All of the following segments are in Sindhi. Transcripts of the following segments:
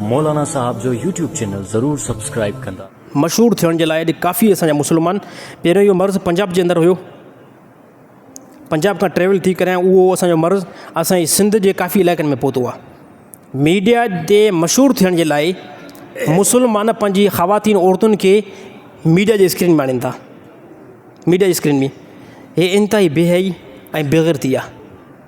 مولانا صاحب جو يوٽيوب چينل ضرور سبسڪرائب ڪندا. مشهور ٿيڻ جي لاء اڄ ڪافي اسان جا مسلمان پهريون اهو مرض پنجاب جي اندر هيو پنجاب کان ٽريول ٿي ڪري ۽ اهو اسان جو مرض اسان جي سنڌ جي ڪافي علائقن ۾ پهتو آهي ميڊيا تي مشهور ٿيڻ جي لاء مسلمان پنهنجي خواتين عورتن کي ميڊيا جي اسڪرين ۾ آڻين ٿا ميڊيا جي اسڪرين ۾ هي انتهائي بي حيائي ۽ بيغيرتي آهي.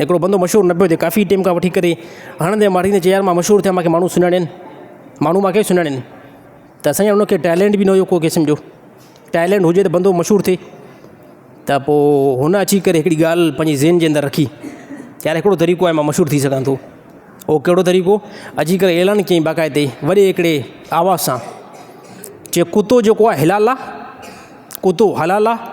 هڪڙو بندو مشهور نه پيو ٿئي، ڪافي ٽيم کان وٺي ڪري هڻندي ماريندي چئي يار مان مشهور ٿيان مانکي ماڻهو سڃاڻين، ماڻهو مانکي سڃاڻين ته اسان جا انکي ٽيلنٽ به نه هيو ڪو قسم جو، ٽيلنٽ هجي ته بندو مشهور ٿئي ته پو هن اچي ڪري هڪڙي ڳالهه پنهنجي ذهن جي اندر رکي ته يار هڪڙو طريقو آهي مان مشهور ٿي سگهان ٿو، هو ڪهڙو طريقو اچي ڪري اعلان ڪيائين باقاعدي وڏي هڪڙي آواز سان چي ڪتو جيڪو آهي حلال آهي ڪتو حلال آهي.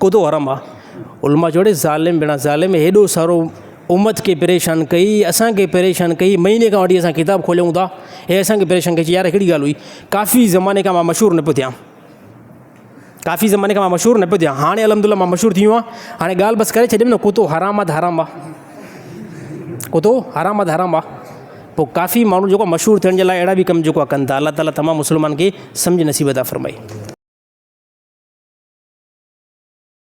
ڪوتو حرام آ. علماء چيو اڙي ظالم بڙا ظالم هيڏو سارو امت کي پريشان ڪئي اسان کي پريشان ڪئي مهيني کان وٺي اسان ڪتاب کوليون ٿا هي اسان کي پريشان ڪئي چي يار هي ڪهڙي ڳالهه هئي ڪافي زماني کان مان مشهور نه پيو ٿيان ڪافي زماني کان مان مشهور نه پيو ٿيان هاڻي الحمدالله مان مشهور ٿي ويو آهيان هاڻي ڳالهه بس ڪري ڇڏيم نه ڪوتو حرام آ ته حرام آ اتو حرام اد حرام آ پوء ڪافي ماڻهو جيڪو مشهور ٿيڻ جي لاء اهڙا به ڪم جيڪو ڪن ٿا الله تعالٰي تمام مسلمانن کي سمجهه نصيب عطا فرمائي.